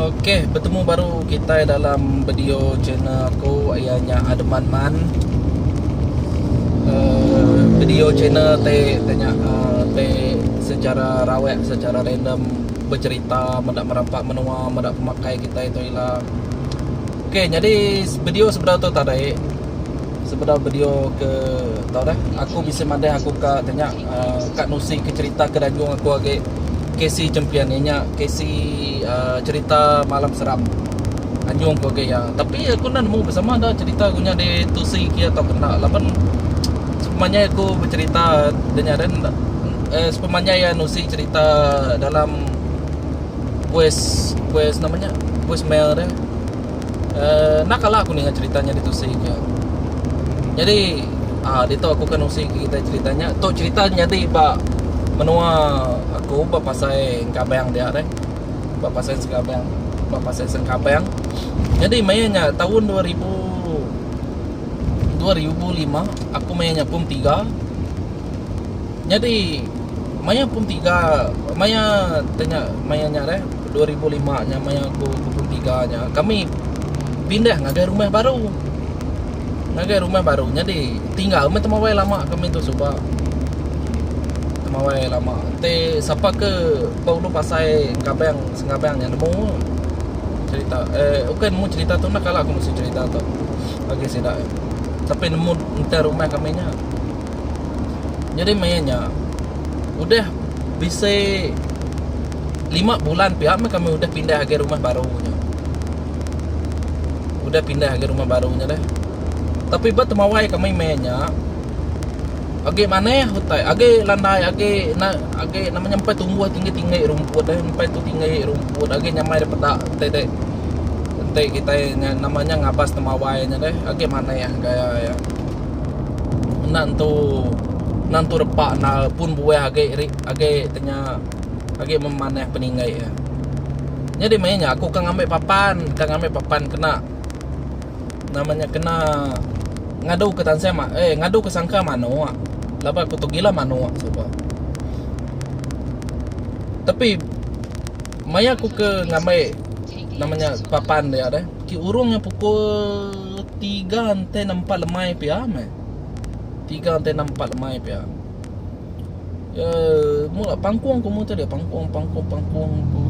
Okey, bertemu baru kitai dalam video channel aku iya nya Ademan Man. Uh, video channel te te nya uh, te secara rawek secara random bercerita meda merampak menua meda pemakai kitai tu ila. Okey, jadi video sebedau tu tadi Sebedau bedio ke tau deh aku bisi madah aku ka tanya ka nusi ke cerita ke danjung aku agi Casey champion inya Casey uhh cerita malam seram anjung aku agi iya tapi aku enda nemu besama enda cerita aku nya di tusi ke iya tau ke enda laban sepanjai aku becerita da nya den uhh sepanjai iya nusi cerita dalam voice voice nama nya voice mail deh. Uh, nakala aku ninga cerita nya ditu sik nya. Nyadi uh, ditu aku ke nusi kita cerita nya. Tu cerita nyadi ba menua aku ba pasai Engkabang dia deh. Ba pasai Engkabang, ba pasai Engkabang. Nyadi maya nya taun 2000 2005 aku maya nya pum tiga. Nyadi maya pun tiga maya tanya maya nya deh 2005 nya maya aku pun tiga nya kami pindah ngagai rumah baru. Ngagai rumah baru nyadi tinggal meh temawai lama kami tu suba. Temawai lama te sapa ke ba ulu pasai Engkabang Sengabang nya nemu cherita eh ukai nemu cherita tu kala aku mesi cherita tu bagi sida tapi nemu enter rumah kami nya. Nyadi maya nya udah bisi lima bulan pia meh kami udah pindah agi rumah baru nya. Udah pindah agi rumah baru nya deh. Tapi ba temawai kami maya nya agi manah utai agi landai agi na agi nama nya empai tumbuh tinggi-tinggi rumput eh empai tu tinggi rumput agi nyamai da peda ti deh enti kitai nama nya ngabas temawai nya deh agi manah gaya iya. enda entu enda entu repa enggau pun buah agi ri agi te nya agi memanah peninggai iya. Nyadi meh nya aku ke ngambi papan ke ngambi papan kena nama nya kena ngadu ke tansah ma eh ngadu ke sangka manok laban aku tu gila manok suba. Tapi maya aku ke ngambi nama nya papan dia deh ke urung nya pukul Tiga enti nempa lemai pia meh. Tiga enti nempa lemai pia. Ya, mula pangkung ku mutu dia pangkung pangkung pangkung ku.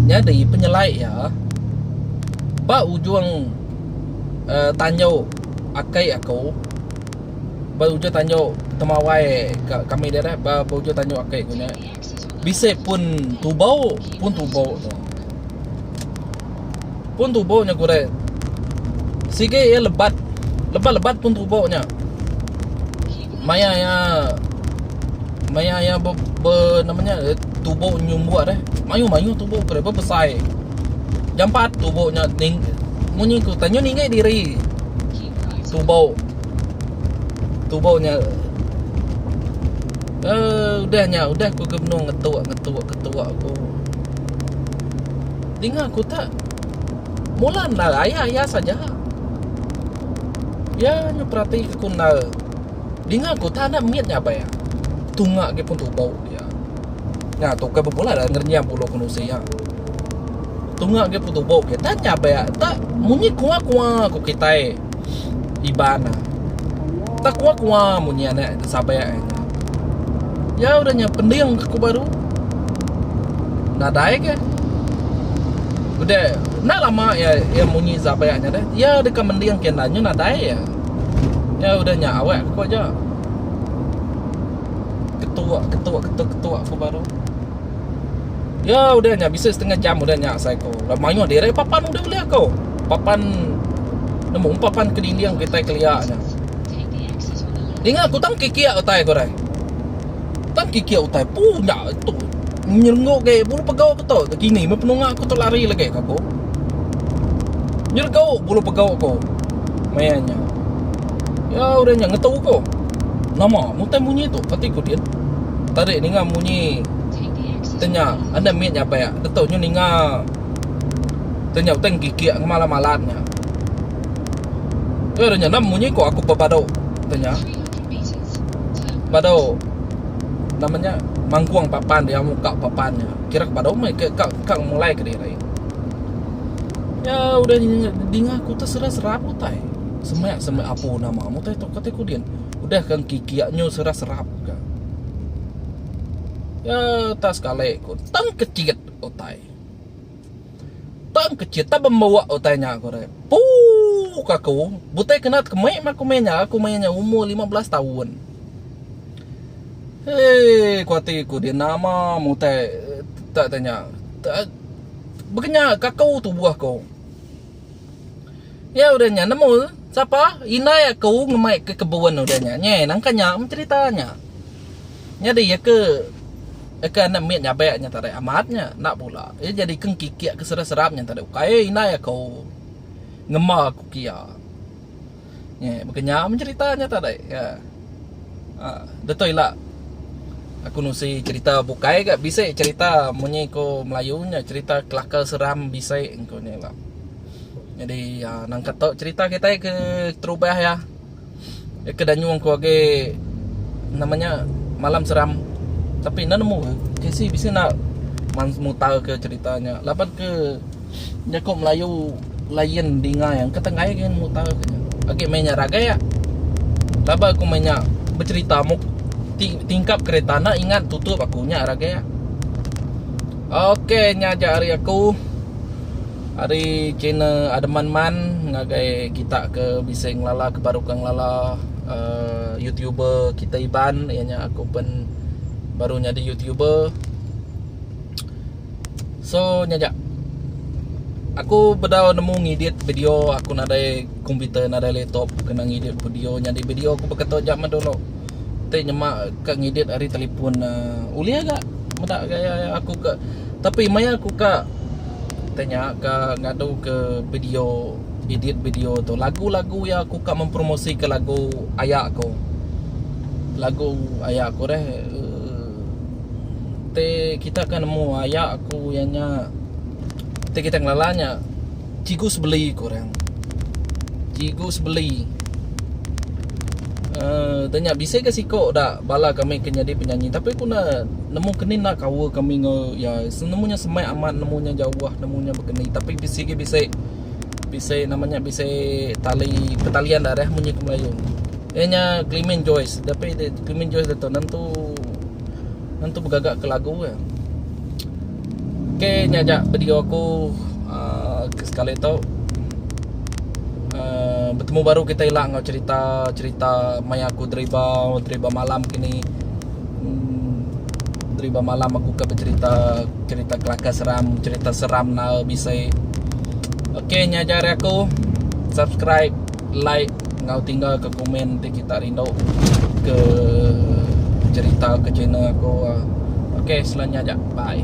Nyadi penyelai iya ba ujung uh, tanju akai aku ba ujung tanju temawai ka kami dia dah ba ujung tanju akai ku nya. Bisi pun tubau, pun tubau tu. Pun tubau nya gurek. Sigi iya lebat. Lebat-lebat pun tubau nya. Maya iya maya iya be, be nama nya tubau nyumbut eh. Mayu-mayu tubau gurek bebesai. Jampat tubau nya ning munyi ku tanyu ninggih diri. Tubau. Tubau nya. Uh, udah nya, udah ku ke benung ngetuk, ngetuk, ngetuk aku. Dinga ku tak, mula endar aya, aya saja. Ya, nyu perati ku endar. Dinga ku tak enda mit nya abai. Tunga agi pun tubo dia. Nya tu ke bepula dah ngerenyam bulu ku nusi ya. Tunga agi pun tubo dia. Tanya abai, tak munyi kuah-kuah ku kitai. Iban ah. Tak kua-kua munyi anak ke sabai ai. Ya udah nya pending ke ku baru. Nadai ke. Udah enda lama ya ya munyi sabai nya deh. Ya deka mending ke enda nya nadai ya. Ya udah nya awak ku aja. Ketu ketu ketu ketu ku baru. Yo udah nya bisi setengah jam udah nya asai ko lalu mayuh diri papan udah ulih ko. Papan nemu papan kedinding kitai kelia nya. Dinga ku tang kikik utai ko deh. Tang kikik utai pu nya tu nyerenggok agi bulu pegau ku tu kini meh penunga ku tu lari lagi ka ko. Nyeregok bulu pegau ko maya nya. Yo udah nya ngetu ko. Nama mutai munyi tu pati ku din. Tadi ninga munyi tenya anda mit nya pek detok nyu ninga tenya utai ngikik ngema alam alat nya. Nya nya enda munyi ko aku pepadu tenya. Padu nama nya mangkung papan dia muka papan nya. Kira ke padu meh ke ka mulai kediri. Nya udah dinga kutus serap serap utai. Semak semak apu nama mutai tok kati kudin. Udah kan kiki nyu serah serap ga. Ya tak sekali ku tang kecit utai. Tang kecit tak bembuak utai nya ku re. Pu ka ku butai kena tekemi meh ku meh nya ku meh nya umur lima belas taun. Hei ku ati ku dia nama mutai tak tanya. Begenya ka ku tubuh ku. Nya udah nya nemu sapa indai aku ngemai ke kebun udah nya. Nyai nangka nya mencerita nya. Nyadi iya ke iya ke anak mit nyabek nya tadi amat nya enda bula. Iya jadi ke ngkikik ke serap-serap nya tadi ukai indai aku ngema aku ke iya. Nge, baka nya men cerita nya ta dai. Ya. Ha, deto ila aku nusi cerita bukai ga bisi cerita munyi ko Melayu nya cerita kelakar seram bisi engko nya ila. Jadi uh, nang kata cerita kita ke terubah ya. Ya ke danyung ko age namanya malam seram. Tapi nang nemu ke si bisi nak mutar ke ceritanya. Laban ke Jaku Melayu lain dingai engka tenggai agi mutar ke nya. Agi meh nya ragak. Laba aku meh nya becerita muk tingkap kereta anda ingat tutup aku nya ragak. Okey nya aja ari aku. Ari channel Ademan Man ngagai kita ke bisi ngelala ke baru ke ngelala uh, YouTuber kita Iban ianya aku pun baru nyadi YouTuber. So nya aja. Aku bedau nemu ngidit video aku nadai komputer nadai laptop kena ngidit video nyadi video aku beketo jaman dulu. Ti nyema ka ngidit ari telefon uhh ulih ga meda gaya aku ka tapi maya aku ka tanya ka ngadu ke video edit video tu lagu-lagu iya aku ka mempromosikan lagu aya aku. Lagu aya aku reh uhh. Ti kita akan nemu aya aku iya nya ti kita ngelala nya Cikgu Sebeli ku orang. Cikgu Sebeli uhh dia nya bisi ga siko da bala kami ke nyadi penyanyi tapi ku ne nemu ke ni enda kaul kami enggau iya. Nemu nya semak amat nemu nya jauh nemu nya begeni tapi bisi ga bisi. bisi nama nya bisi tali petalian da reh munyi ke melayu iya nya clemen joice tapi de clemen joice de tu nentu nentu begaga ke lagu ke ok nya aja video aku uh, sekali tu uh, bertemu baru kita ila enggau cerita cerita maya aku deriba deriba malam kini Menteri ba malam aku ke becerita cerita kelakar seram, cerita seram nal bisi. Okey nya aja ari aku. Subscribe, like enggau tinggal ke komen ti kita rindu ke cerita ke channel aku. Okey selalu nya aja. Bye.